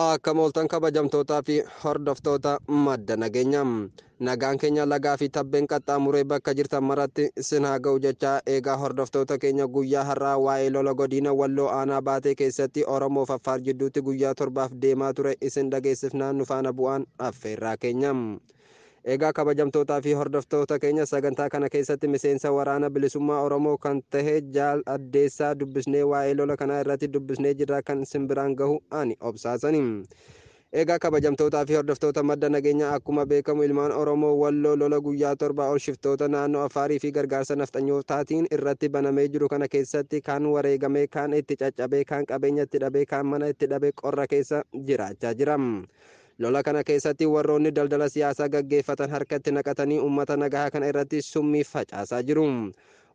Akka mooltan kabajamtootaa fi hordoftoota madda nageenya. Nagaan keenya lagaa fi tabbeen qaxxaamuree bakka jirtan maratti sin haa ga'u jechaa eegaa hordoftoota keenya guyyaa har'aa waa'ee lola godina walloo aanaa baatee keessatti Oromoo fi Affaar jidduutti guyyaa torbaaf deemaa ture isin dhageessifnaa nu faana bu'aan affeerraa keenya. Egaa kabajamtootaa fi hordoftoota keenya sagantaa kana keessatti miseensa waraana bilisummaa Oromoo kan tahe Jaal Addeessaa dubbisnee waa'ee lola kanaa irratti dubbisnee jirra kan isin biraan gahu ani obsaasani. Egaa kabajamtootaa fi hordoftoota madda nageenyaa akkuma beekamu ilmaan Oromoo Walloo lola guyyaa torbaa ol shiftoota naannoo Affaarii fi gargaarsa nafxanyootaatiin irratti banamee jiru kana keessatti kaan wareegamee, kaan itti caccabee, kaan qabeenya itti dhabee, kaan mana itti dhabee qorra keessa jiraachaa jira. Lola kana keessatti warroonni daldala siyaasaa gaggeeffatan harkatti naqatanii ummata nagahaa kana irratti summii facaasaa jiru.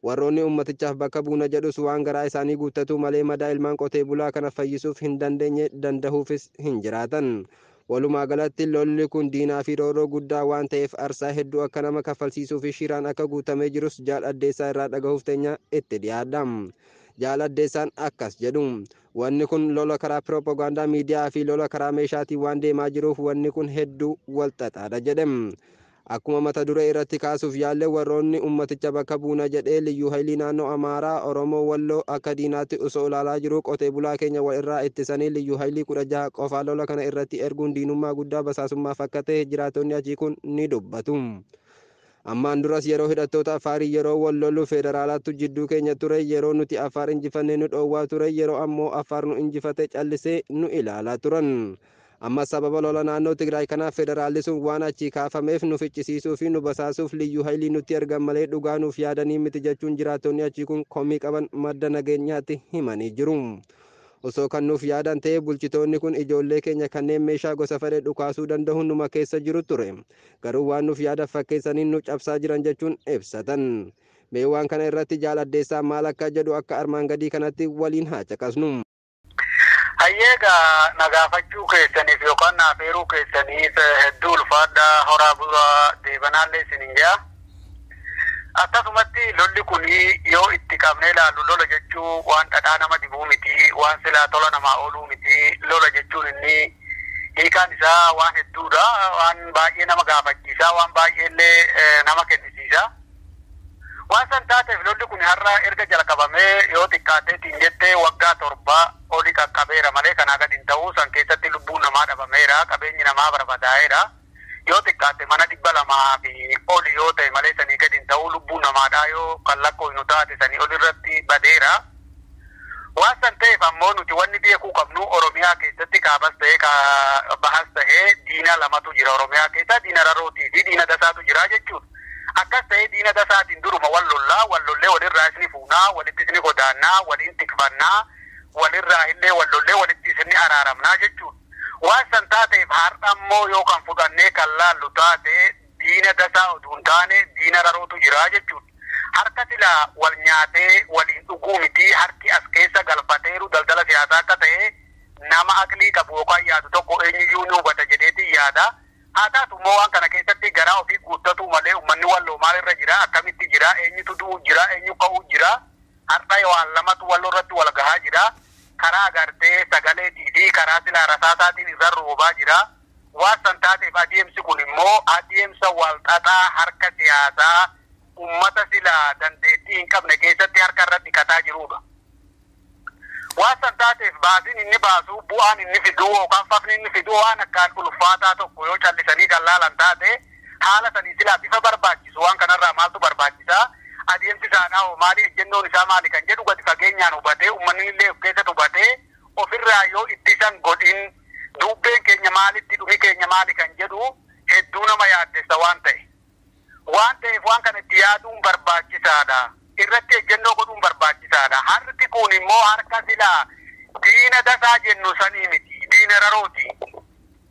Warroonni ummatichaaf bakka buuna jedhus waan garaa isaanii guuttatuu malee madaa ilmaan qotee bulaa kana fayyisuuf hin dandeenye dandahuufis hin jiraatan. Walumaa galatti lolli kun diinaa fi roorroo guddaa waan ta'eef arsaa hedduu akka nama kaffalsiisuu fi shiraan akka guutamee jirus Jaal Addeessaa irraa dhagahuuf teenya itti dhiyaadha. Jaal Addeessaan akkas jedhu. Wanni kun lola karaa pirooppogaandaa miidiyaa fi lola karaa meeshaatiin waan deemaa jiruuf wanni kun hedduu wal xaxaadha jedhe. Akkuma mata duree irratti kaasuuf yaalle warroonni ummaticha bakka buuna jedhee liyyuu hayilii naannoo Amaaraa, Oromoo Walloo akka diinaatti osoo ilaalaa jiruu qotee bulaa keenya wal irraa ittisanii liyyuu hayilii 16 qofaa lola kana irratti erguun diinummaa guddaa basaasummaa fakkatee jiraattonni achii kun ni dubbatu. Ammaan duras yeroo hidhattoota Afaarii yeroo wal lollu Feedaraalaattu jidduu keenya ture, yeroo nuti Afaar injifanne nu dhoowwaa ture, yeroo ammoo Afaar nu injifate callisee nu ilaalaa turan. Ammas sababa lola naannoo Tigraay kanaaf Feedaraalli sun waan achii kaafameef nu ficcisiisuu fi nu basaasuuf Liyyuu Hayilii nutti ergan malee dhugaa nuuf yaadanii miti jechuun jiraattonni achii kun komii qaban madda nageenyaatti himanii jiru. Osoo kan nuuf yaadan ta'ee bulchitoonni kun ijoollee keenya kanneen meeshaa gosa fedhe dhukaasuu dandahu numa keessa jiru ture. garuu waan nuuf yaada fakkeessaniin nu cabsaa jiran jechuun ibsatan. Mee waan kana irratti Jaal Addeessaa maal akka jedhu akka armaan gadii kanatti waliin haa caqasnu. Hayyee egaa na gaafachuu keessaniif yookaan na afeeruu keessaniif hedduu ulfaadhaa horaa bulaa deebanaallee isinin jedha. Akkasumatti lolli kun yoo itti qabnee ilaallu lola jechuu waan dhadhaa nama dibuu miti, waan silaa tola namaa ooluu miti. Lola jechuun inni hiikaan isaa waan hedduudha. Waan baay'ee nama gaafachiisa, waan baay'ee illee nama kennisiisa. Waan san taateef lolli kun har'a erga jalqabamee yoo xiqqaatee tiin jette waggaa torba oli qaqqabeera malee kanaa gad hin ta'u. San keessatti lubbuun namaa dhabameera, qabeenyi namaa barbadaa'eera. yoo xiqqaate mana 200 fi oli yoo ta'e malee sanii gadi hin ta'uu lubbuu namaadhaa yoo kan lakkooynu taate sanii oli irratti badeera. Waan san ta'eef ammoo nuti wanni beekuu qabnu Oromiyaa keessatti kaabas ta'ee ka bahas ta'ee diina lamatu jira Oromiyaa keessaa diina rarootii fi diina dasaatu jira jechuudha. Akkas ta'ee diina dasaatiin duruma wal lollaa wal lollee walirraa isni fuunaa walitti isni godaannaa waliin tikfannaa walirraa illee wal lollee walitti isni araaramnaa jechuudha. Waan san taateef har'a immoo yoo kan fudhannee kan laallu taate diina dasaa oduu hin taane diina rarootu jira jechuudha. Harka sila wal nyaatee waliin dhuguu mitii harki as keessa galfateeru daldala siyaasaa akka ta'e nama aqlii qabu yookaan yaadu tokko eenyuyyuu ni hubata jedheetiin yaada. Haa taatu immoo waan kana keessatti garaa ofii guuttatuu malee ummanni Walloo maal irra jira akkamitti jira eenyutu du'uu jira eenyu ka'uu jira Hardha waan lamatu wal irratti wal gahaa jira. Karaa agartee sagaleetii fi karaa silaa rasaasaatiin irra roobaa jira. Waan san taateef adeemsi kun immoo adeemsa wal xaxaa harka siyaasaa ummata silaa dandeettii hin qabne keessatti harka irra dhiqataa jiruudha. Waan san taateef baasiin inni baasu, bu'aan inni fidu yookaan fafni inni fidu waan akkaan ulfaataa tokko yoo callisanii kan laalan taate, haala saniin silaa bifa barbaachisu waan kanarraa maaltu barbaachisa, adeemsi isaadhaahoo maali, ejjennoon isaa maali kan jedhu gadi fageenyaan hubatee ummanninillee of keessatti hubatee ofirraa yoo ittisan godhin duubbeen keenya maalitti dhumi keenya maali kan jedhu hedduu nama yaaddessa waan ta'e waan ta'eef waan kana itti yaaduun barbaachisaadha. Irratti ejjennoo godhuun barbaachisaadha. Harki kun immoo harka silaa diina dasaa jennu sanii miti. Diina rarooti.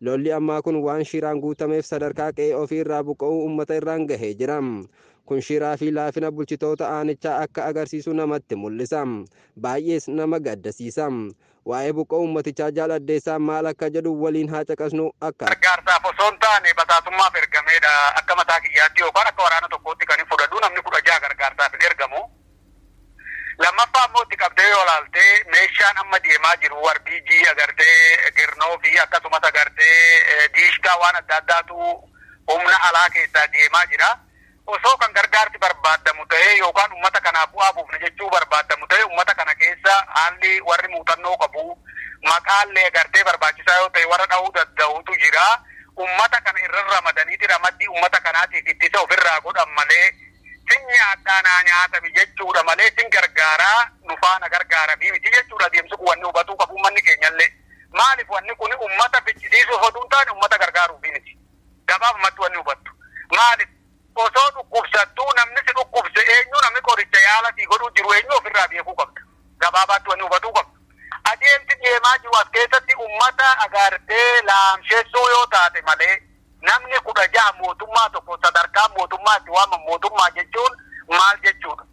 Lolli ammaa kun waan shiraan guutameef sadarkaa qe'ee ofii irraa buqqa'uu ummata irraan gahee jira. Kun shiraa fi laafina bulchitoota aanichaa akka agarsiisu namatti mul'isa. Baay'ees nama gaddasiisa. Waa'ee buqqa'uu ummatichaa Jaal Addeessaa maal akka jedhu waliin haa caqasnu akka. Gargaarsaaf osoo hin taane basaasummaaf ergameedha. Akka mataa kiyyaatti yookaan akka waraana tokkootti kanin fudhadhu namni 16 gargaarsaaf hin ergamu. Lammaffaa immoo itti qabdee yoo ilaalte meeshaan amma deemaa jiru warbiiji agartee girnoo fi akkasumas agartee diishkaa waan adda addaatu humna alaa keessaa deemaa jira. Osoo kan gargaarsi barbaadamu ta'ee yookaan uummata kanaaf bu'aa buufna jechuu barbaadamu ta'ee uummata kana keessa haalli warri muuxannoo qabu maqaallee agartee barbaachisaa yoo ta'e warra dhahuu danda'utu jira. Uummata kana irra ramadaniiti ramaddii uummata kanaatiif ittisa ofirraa godhan malee sin nyaadhaa naa nyaatami jechuudha malee sin gargaaraa nu faana gargaaramii miti jechuudha adeemsi kun wanni hubatuu qabu ummanni keenyallee maalif wanni kuni ummata ficcisiisuuf otuu hin taane ummata gargaaruufi miti gabaabumatti wanni hubattu maalif osoo dhukkubsattuu namni si dhukkubse eenyu namni qoricha yaala sii godhuu jiru eenyu ofirraa beekuu qabda gabaabaatti wanni hubatuu qabdu adeemsi deemaa jiru as keessatti ummata agaartee laamshessuu yoo taate malee Namni 16 mootummaa tokko sadarkaa mootummaa itti waaman mootummaa jechuun maal jechuudha?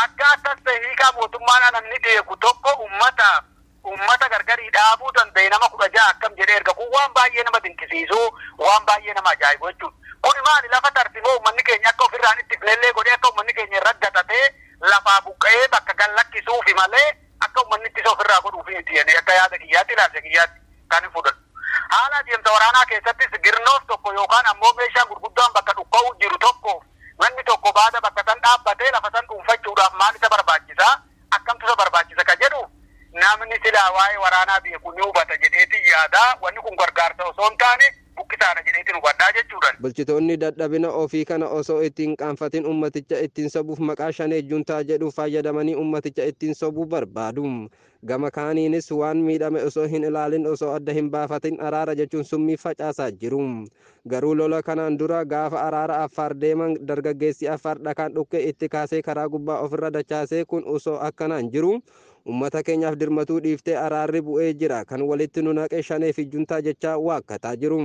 Akka akkas ta'e hiikaa mootummaadhaa namni beeku tokko ummataaf ummata gargarii dhaabuu danda'e nama 16 akkam jedhee erga kun waan baay'ee nama dinqisiisuu waan baay'ee nama ajaa'ibu jechuudha. Kuni maali lafa tarsimoo ummanni keenya akka ofirraa hin ittifnellee godhee akka ummanni keenya irra gatatee lafaa buqqa'ee bakka gad lakkisuufi malee akka ummanni ittisa ofirraa godhuufi miti jedhee akka yaada kiyyaatti ilaalcha kiyyaatti kan hin fudhadhu. Haala adeemsa waraanaa keessattis girnoof tokko yookaan ammoo meeshaan gurguddaan bakka dhukka'uu jiru tokkoof manni tokko baada bakka san dhaabbatee lafa san dhuunfachuudhaaf maal isa barbaachisa? Akkamtu isa barbaachisa? ka jedhuuf namni silaa waa'ee waraanaa beeku ni hubata jedheetin yaada. Wanni kun gargaarsa osoo hin taane buqqisaadha jedheetin hubadha jechuudhan. Bulchitoonni dadhabina ofii kana osoo itti hin qaanfatin ummaticha ittiin sobuuf maqaa Shanee Juntaa jedhu faayyadamanii ummaticha ittiin sobuu barbaadu. Gama kaaniinis waan miidhame osoo hin ilaalin osoo adda hin baafatin araara jechuun summii facaasaa jiru. Garuu lola kanaan dura gaafa araara Affaar deeman dargaggeessi Affaar dhakaan dhukkee itti kaasee karaa gubbaa ofirra dachaasee kun osoo akkanaan jiru ummata keenyaaf dirmatuu dhiiftee araarri bu'ee jira kan walitti nu naqe shanee fi juntaa jechaa waakkataa jiru.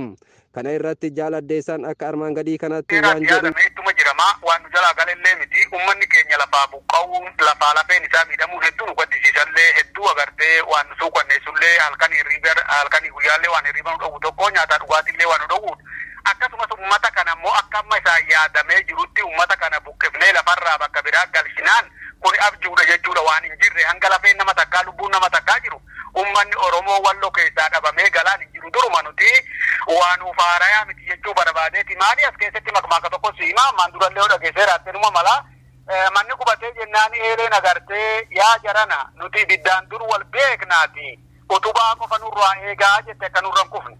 Kana irratti Jaal Addeessaan akka armaan gadii kanatti Seeraan waan jedhu. yaadamee ittuma jirama. Waan nu jalaa gale illee miti. Ummanni keenya lafaa buqqa'uun, lafaa lafeen isaa miidhamuun hedduu nu gaddisiisa illee, hedduu agartee waan nu suukkanneessu illee, halkanii hirriiba, halkanii guyyaa illee waan hirriiba nu dhowwu tokko, nyaataa dhugaatii illee waan nu dhowwuudha. Akkasumas ummata kana immoo akka amma isaan yaadamee jirutti ummata kana buqqifnee lafa irraa bakka biraa galchinaan kuni abjuudha jechuudha. Waan hin jirre hanga lafeen nama takkaa, lubbuun nama takkaa jiru, ummanni Oromoo Wallo keessaa dhabamee galaan hin jiru duruma nuti waa nuuf haarayaa miti jechuu barabaadeeti maali as keessatti makmaaka tokko si hima ammaan durallee yoo dhageessee raatte numa mala Eh, manni gubatee jennaan eeleen agartee yaa jarana nuti ibiddaan dur wal beeknaati utubaa qofa nurraa eegaa jette akka nurra hin kufne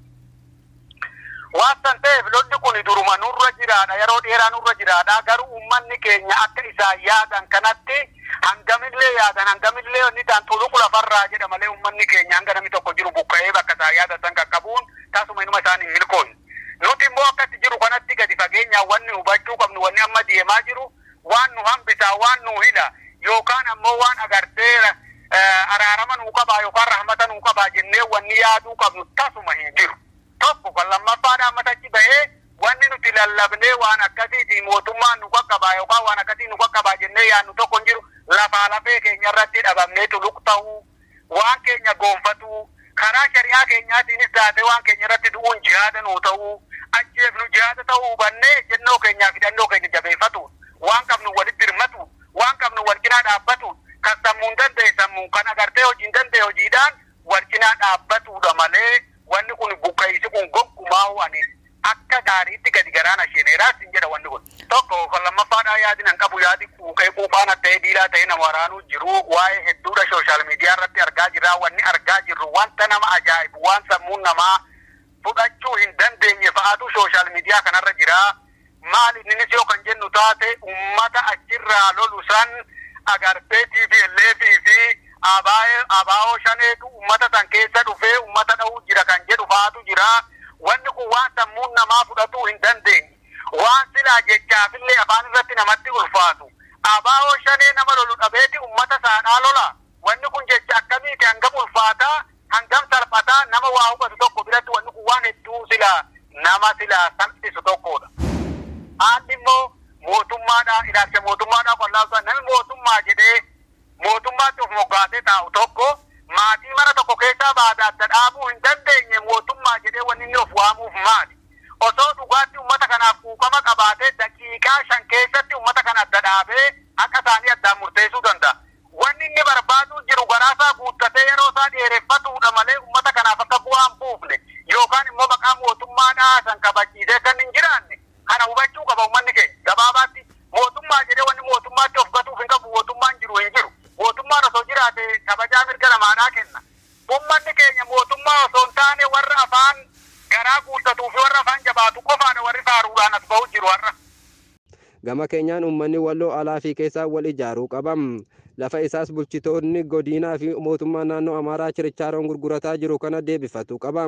Waan san ta'eef lolli kuni duruma nurra jiraadha, yeroo dheeraa nurra jiraadha, garuu ummanni keenya akka isaan yaadan kanatti hangamillee yaadan hangamillee wanni ta'an xuluq lafarraa jedha malee ummanni keenya hanga namni tokko jiru buqqa'ee bakka isaan yaadan san qaqqabuun tasuma inuma isaan hin milkoofne. Nuti immoo akka itti jiru kanatti gadi fageenyaan wanni hubachuu qabnu wanni amma deemaa jiru waan nu hambisaa, waan nuu hila, yookaan ammoo waan agartee araarama nuu qabaa yookaan rahmata nuu qabaa jennee wanni yaaduu qabnu tasuma hin jiru. Tokko kan lammaffaadha ammas achi bahee wanni nuti lallabnee waan akkasiitii mootummaan nu qaqqabaa yookaan waan akkasii nu qaqqabaa jennee yaadnu tokko hin jiru. Lafaa lafee keenya irratti dhabamneetu luqta'uu. waan keenya goonfatuu, karaa shari'aa keenyaatiinis taatee waan keenya irratti du'uun jihaada nuu ta'uu, ajjeefnu jihaada ta'uu hubannee ejjennoo keenyaa fi hidhannoo keenya jabeeffatuun, waan qabnuun walitti dirmatuun, waan qabnuun wal cinaa dhaabbatuun, kan sammuun danda'e sammuun, kan agartee hojiin danda'e hojiidhaan wal cinaa dhaabbatuudha malee Wanni kun buqqa'iisi kun goggumaahuu ani akka gaariitti gadi garaa na sheeneera sin jedha wanni kun. Tokko kan lammaffaadhaa yaadin an qabu yaadi quuqee quuphaan atta'ee diilaa ta'ee nama waraanuu jiruu waa'ee hedduudha shooshaal miidiyaa irratti argaa jirraa wanni argaa jirru wanta nama ajaa'ibu waan sammuun namaa fudhachuu hin dandeenye fa'aatu shooshaal miidiyaa kanarra jiraa maal inni nis yoo kan jennu taate ummata achirraa lolu san agartee tplf fi ABO shaneetu ummata san keessa dhufee ummata dha'uu jira kan jedhu fa'aatu jira. Wanni kun waan sammuun namaa fudhatuu hin dandeenye. Waan silaa jechaafillee afaan irratti namatti ulfaatu. ABO shanee nama lolu dhabeeti ummata saadhaa lola? Wanni kun jecha akkamiiti? Hangam ulfaataa? Hangam salphataa? Nama waa hubatu tokko biratti wanni kun waan hedduu sila nama silaa salphisu tokkoodha. Haalli immoo mootummaadha. Ilaalcha mootummaadhaa qollaa utuu nami mootummaa jedhee mootummaatti of moggaasee taa'u tokko maatii mana tokko keessaa baada adda dhaabuu hin dandeenye mootummaa jedhee wanni inni of waamuuf maali? Osoo dhugaatti ummata kanaaf quuqama qabaatee daqiiqaa shan keessatti ummata kana adda dhaabee haqa isaanii addaan murteessuu danda'a. Wanni inni barbaaduu jiru garaa isaa guuttatee yeroo isaa dheereffatuu dha malee uummata kanaaf akka bu'aa hin buufne yookaan immoo maqaa mootummaa dhaasan kabachiisee akka inni hin jiraanne kana hubachuu qaba uummanni keenya. Gabaabaatti mootummaa jedhee wanni mootummaatti of gatuuf hin qabu mootummaan jiru hin jiru. Mootummaan osoo jiraate kabajaa mirga namaadhaa kenna. Uummanni keenya mootummaa osoo hin taane warra afaan garaa guuttatuu fi warra afaan jabaatu qofaa dha warri faaruudhaan as bahu jiru har'a. Gama keenyaan uummanni Walloo alaa fi keessaa wal ijaaruu qaba. Lafa isaas bulchitoonni godiinaa fi mootummaa naannoo Amaaraa chirichaaroon gurgurataa jiru kana deebifatuu qaba.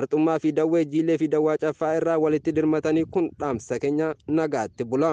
Arxummaa fi Dawwee Jiillee fi Dawwaa Caffaa irraa walitti dirmatanii kun dhaamsa keenya nagaatti bula.